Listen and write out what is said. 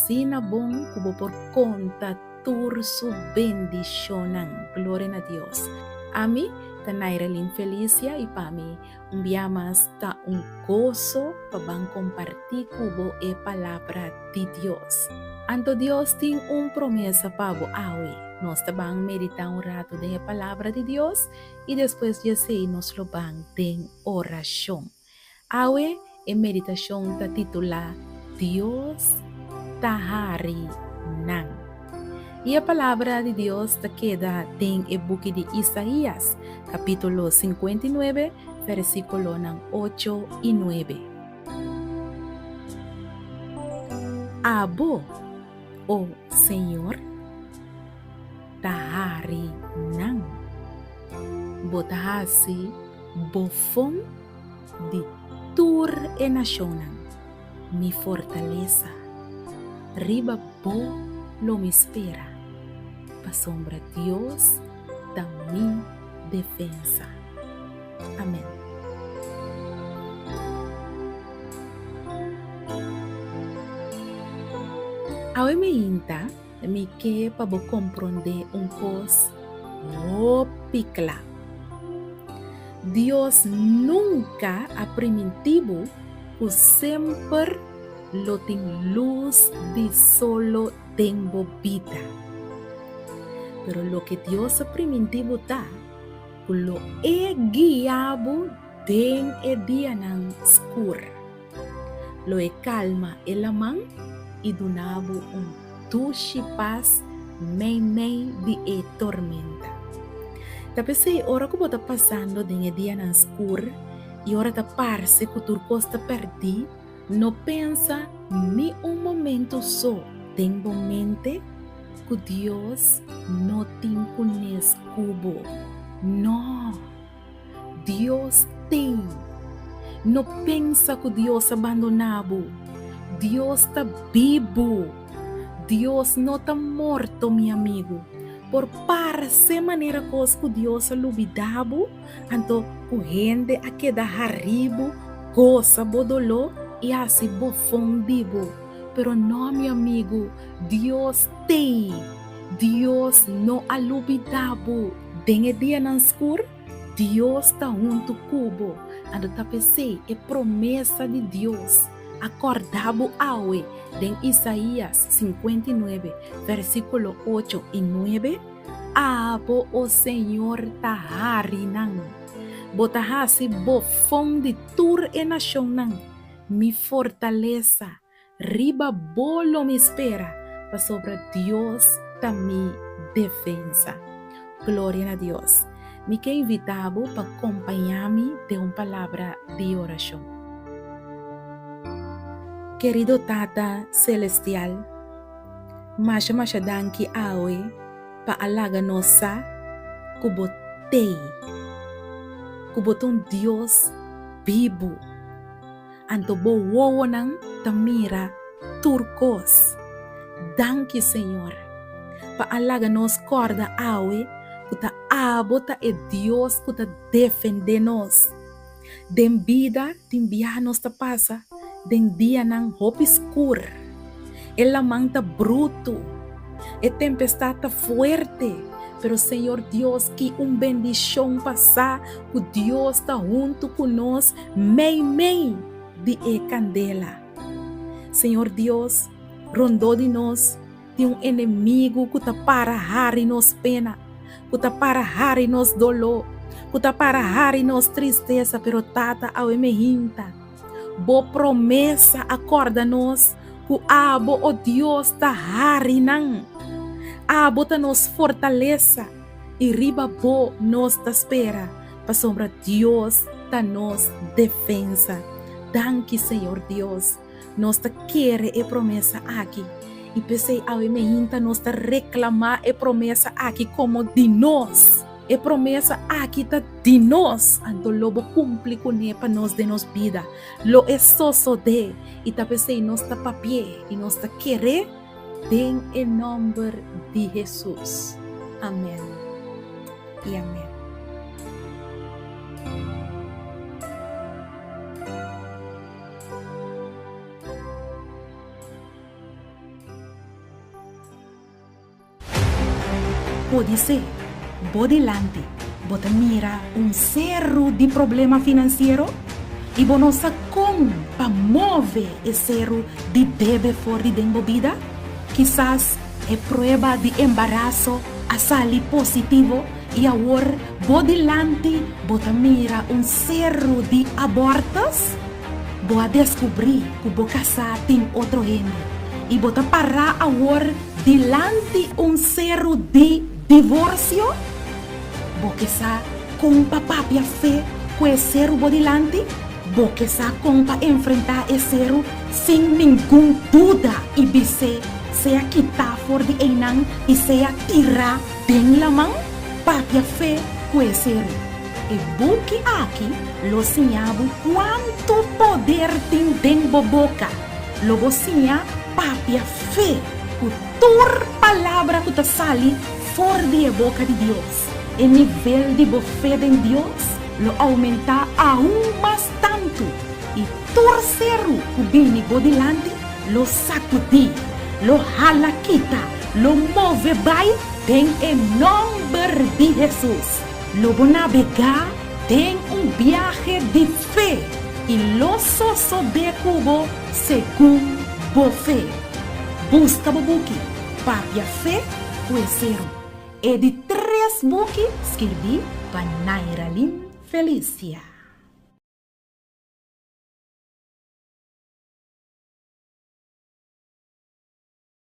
Asina bon ku bo por konta tur su bendishonnan. Gloria na Dios. Ami ta Nairelin Felicia i pa mi un bia mas ta un goso pa ban kompartí ku bo e palabra di Dios. Anto Dios tin un promesa pa bo awe. Nos ta ban meditá un ratu den e palabra di Dios i despues di esei nos lo ban den orashon. Awe e meditashon ta titulá Dios ta hari nan. I e palabra di Dios ta keda den e buki di Isaías, kapítulo sinkuenta i nuebe, bèrsikulonan ocho i nuebe. Abo, O Señor? ta hari nan. Bo ta hasi bo fon di tur e nashonnan mi fortalesa. Riba bo lo mi spera, pasobra Dios ta mi defensa. Amen. Awe mi hinta. Mi ke pa bo komprondé un kos hopi kla. Dios nunka a primintí bo ku semper lo tin lus di solo den bo bida. Pero loke Dios a primintí bo ta ku lo e guia bo den e dianan skur. Lo e kalma e laman i duna bo un dushi pas mei mei di e tormenta. Ta p'esei ora ku bo ta pasando den e dianan skur i ora ta parse ku tur kos ta pèrdí, no pensa ni un momentu so den bo mente ku Dios no tin kunes ku bo. Nò! Dios t'ei. No pensa ku Dios a bandoná bo. Dios ta bibu. Dios no ta morto, mi amigu. Por parse manera kos ku Dios a lubidá bo, anto ku hende a keda harí bo, gosa bo doló i hasi bofon di bo. Pero no, mi amigu, Dios t'ei. Dios no a lubidá bo. Den e dianan skur, Dios ta huntu ku bo. Ando ta pesei e promesa di Dios a kòrda bo awe den Isaías sinkuenta i nuebe, vèrsikulo ocho i nuebe, Abo, o Señor, ta harinan. Bo ta hasi Bo fon di tur e nashonnan, mi fortalesa. Riba bo lo mi spera, pasobra Dios ta mi defensa. Gloria na Dios! Mi ke invitá bo pa kompañá mi den un palabra di orashon. Kerido Tata selestial, masha masha danki awe pa a laga nos sa ku bo t'ei, ku bo ta un Dios bibu. Anto bo wowonan ta mira tur kos. Danki Señor pa a laga nos kòrda awe ku ta abo ta e Dios ku ta defendé nos. Den bida tin biaha nos ta pasa den dianan hopi skur. E laman ta brutu, e tempestad ta fuerte, pero Señor Dios ki un bendishon pa sa ku Dios ta huntu ku nos Meimei di e candela. Señor Dios, rondó di nos tin un enemigo cu ta para hari nos pena, cu ta para hari nos doló, cu ta para hari nos tristeza, pero Tata awe me hinta bo promesa a corda nos cu abo, o Dios, ta harinan. Abo ta nos fortalesa. I riba bo nos ta spera, pasobra Dios ta nos defensa. Danki, Señor Dios. Nos ta kere e promesa aki, i p'esei awe mainta nos ta reklamá e promesa aki komo di nos. E promesa aki ta di nos, anto lo bo kumpli kuné pa nos den nos bida. Lo e sosodé, i ta p'esei nos ta papia i nos ta kere. Den e nomber di Hesus, amen i amen. Podisé bo dilanti bo ta mira un seru di problema finansiero i bo no sa kon pa move e seru di debe for di den bo bida. Kisas e prueba di embaraso a sali positivo i awor bo dilanti bo ta mira un seru di abòrtus. Bo a deskubrí ku bo kasá tin otro hende i bo ta pará awor Dilanti un seru di divorsio? Bo ke sa kon pa papia fe ku e seru bo dilanti? Bo ke sa kon pa enfrentá e seru sin ningun duda i bis'é sea kitá for di einan i sea tirá den laman? Papia fe ku e seru. E buki aki lo siña bo kuantu poder tin den bo boka. Lo bo siña papia fe ku tur palabra ku ta sali for di e boka di Dios. E nivel di bo fe den Dios lo oumentá aun mas tantu, i tur seru ku bini bo dilanti lo sakudí, lo hala kita, lo move bai den e nòmber di Hesus. Lo bo nabegá den un biahe di fe i lo sosob'é ku bo segun bo fe. Buska bo buki Papia Fe ku e seru. E di tres buki skirbí pa Nairalyn Felicia.